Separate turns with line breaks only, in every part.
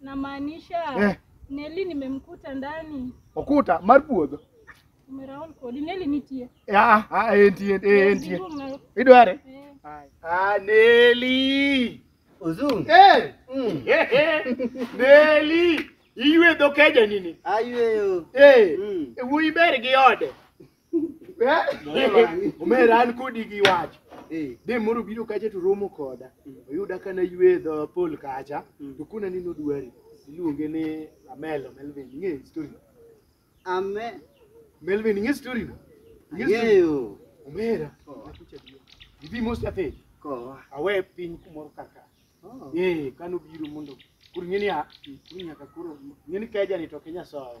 Namaanisha
Eh. Neli nimemkuta ndani. Okuta mar puodho.
Umeraon
kodi Neli nitie. Eh, ah, ah, entie,
eh, entie. Giduong' na- Idware? eh. Ah, Neli. Ozungu.
Eh,
Mm. eh, eh. Neli. Iywe dhokeja nini? Ayweyo.
Eh, Mm. wuyi
ber gi ode. Eh? Omera an kodi gi wach. Eh. De moro biro kacha to romo koda. Mm. Oyuda kana ywe dho pol kacha. Mm. To kuna ni nodwari. Iluonge ni Amelo Melvin. Ng'e story. Ame. Melvin ng'e story. Ng'eyo.
Omera.
Oh. Ibi mos ate. Ko. Awe piny kumoro kaka. Oh. Eh, kano biro mondo. Kuri ng'e ni a. Kuri nyaka kuro. Ng'e ni kaja ni to Kenya sawa.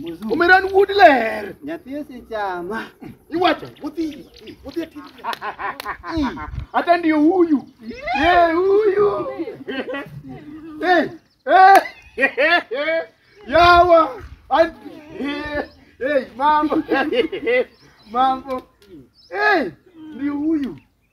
Muzungu. Umeran wuod ler. Nyathi osechama.
Iwacho, wuthi,
wuthi ati. Hata ndio huyu. Eh, huyu. Eh, eh. Yawa. An- Eh, eh, mambo. Mambo. Eh, ndio huyu.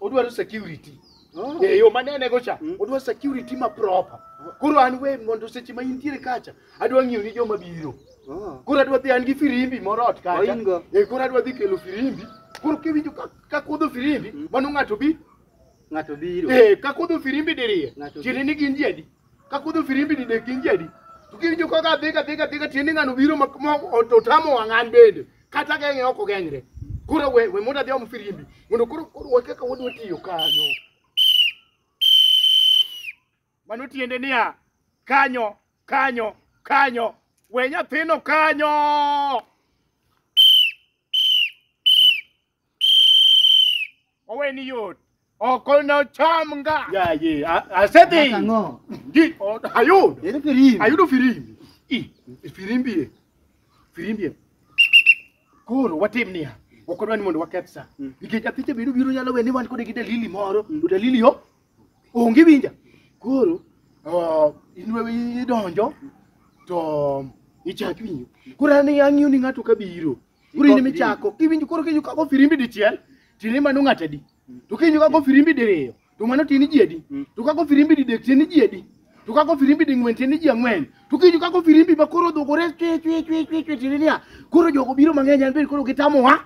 odwaro security Oh. e yo manene go cha Mm. odwa security ma proper koro an we mondo seche ma intiere kacha adwa ng'iyo ni joma biro Oh. koro adwa dhi an gi firimbi moro ot kacha Oin go. e koro adwa dhi kelo firimbi koro kiwinjo ka- ka kudho firimbi Mm. mano ng'ato bi Ng'ato biro. e ka kudho firimbi diriyo Ng'ato tiende ni gin ji adi ka kudho firimbi ni nek gin ji adi to kiwinjo kaka adhi kadhi kadhi ka tiende ng'ano biro ma- ma to tamo wang' an bende kata geng'e ok ogeng're koro we we mondo adhi om firimbi mondo koro koro we kaka wadwa tiyo kanyo mano tiende niya kanyo kanyo kanyo we nyathino kanyo oweni yot ok nocham nga Yaye, a- asedhi. Ang'o?
Ndi- o- Ayudo.
Ere firimbi? Ayudo
firimbi.
I, Firimbie. Firimbie. Koro watim niya. Ok odwa ni mondo waketh sa. Mm. Nikech athiche biro biro nyalo we ni wan kode gi dalili moro. To dalili yo onge winja. Koro ah, in we idonjo to ichak winjo. Koro an ang'iyo ni ng'ato ka biro. Koro in michako, iwinjo koro kinyo kago firimbi dichiel, tini mano ng'ata di. To kinyo kago firimbi diriyo, to mano tini ji adi. To kago firimbi didek tini ji adi. To kago firimbi ding'wen tini ji ang'wen. To kinyo kago firimbi ma koro odhugore chwe chwe chwe chwe chwe tini niya. Koro jogo biro mang'eny an bende koro gitamo wa.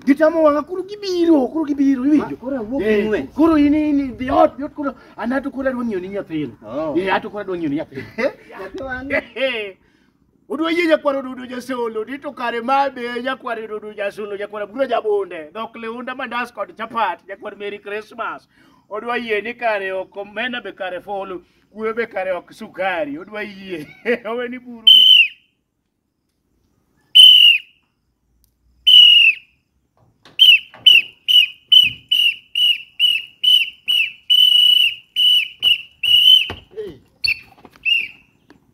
Gitamo wang'a koro gibiro, koro gibiro iwinjo. Koro awuok Eh, ing'wen. Koro in in the hot, yot koro an ato koro adwa ng'iyo ni nyathino. Oh. Eh, ato koro adwa ng'iyo ni nyathino. Nyathi wang'e. Hehe. Udwa yie nyakwar odudo jasolo ni to kare ma be nyakwar odudo jasolo nyakwar aburo jabunde dhok liunda mandas kod chapat nyakwar Merry Christmas. Odwa yie ni kare ok omena be kare folo kuwe be kare ok sukari odwa yie owe ni buru mi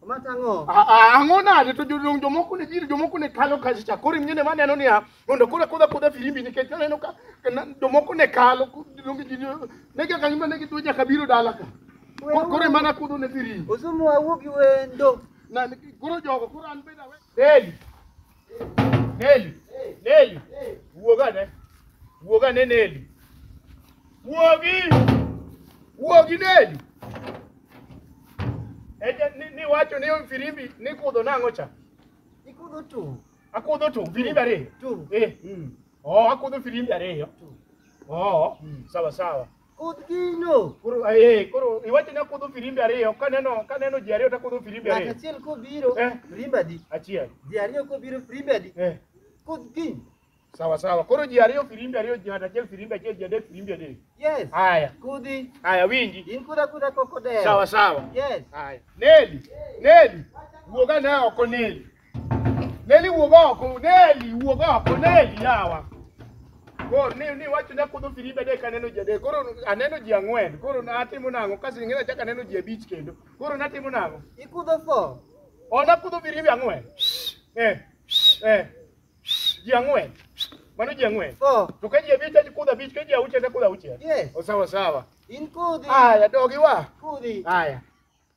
Omata ang'o? Ah, ah, ang'o nade to
jodong jomoko ne biro jomoko ne kalo kacha koro ing'e ne maneno niya mondo koro kudha kudha firimbi nikech aneno ka ka na- jomoko ne kalo ku- jodong ji ne- ne ga kanyo mane gidwa nyaka biro dala ka Koro- koro emana kudho ne firimbi Osumu awuo gi
wendo. na koro
jogo koro an beda we Deli Neli, Neli, wuog ane. Wuog ane Neli. Wuogi! Wuogi Neli. Eja ni, ni wacho ni firimbi ni kudho nang'o cha? Ikudho tu.
Akudho tu firimbi
ariyo. Tu. Eh. Mm.
Oh,
akudho firimbi ariyo. Tu. Oh, Mm. sawa sawa. Kudh gino.
Koro eh koro
iwacho ni akudho firimbi ariyo kaneno kaneno ji ariyo takudho firimbi Ng'ato ariyo. achiel kobiro, Eh.
firimbi adi? Achiel. Ji ariyo
kobiro,
firimbi adi? Eh. Kudh gino. Sawa sawa. Koro
ji ariyo firimbi ariyo ji ng'ato achiel firimbi achiel ji adek firimbi adek. Yes. Haya.
Kudhi.
Haya
winji. In
kudha kudha koko
dewo. Sawa sawa. Yes.
Haya.
Neli.
Neli. Wuoga na oko Neli. Neli wuog oko, Neli wuog oko, Neli yawa. Koro ni ni wacho ne kudho firibe adek aneno ji adek. Koro aneno ji ang'wen. Koro natimo nang'o? Kasi ng'e achak aneno ji abich kendo. Koro natimo nang'o? Ikudho fo.
O nakudho firibe ang'wen.
Eh. Eh. Ji ang'wen. Mano ji ang'wen. Fo. To ka ji abich
aji kudho
abich, ka ji auchiel to kudho auchiel. Yes. O sawa sawa.
In
kudhi.
Haya dogi wa.
Kudhi. Haya.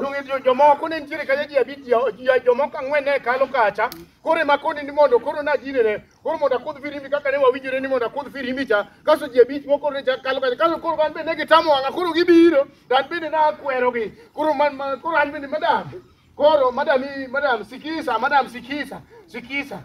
Donge jomoko ne nitiere
kanya ji abich ji- jomoko ang'wen ne kalo kacha koro ema koni ni mondo koro najinene koro mondo akudh firimbi kaka ne wawinjore ni mondo akudh firimbi cha kaso ji abich moko ne chak kalo kacha kaso koro an bende ne gitamo wang'a koro gibiro to an bende nakwerogi koro man- man- koro an bende madam koro madam i- madam sikisa madam sikisa sikisa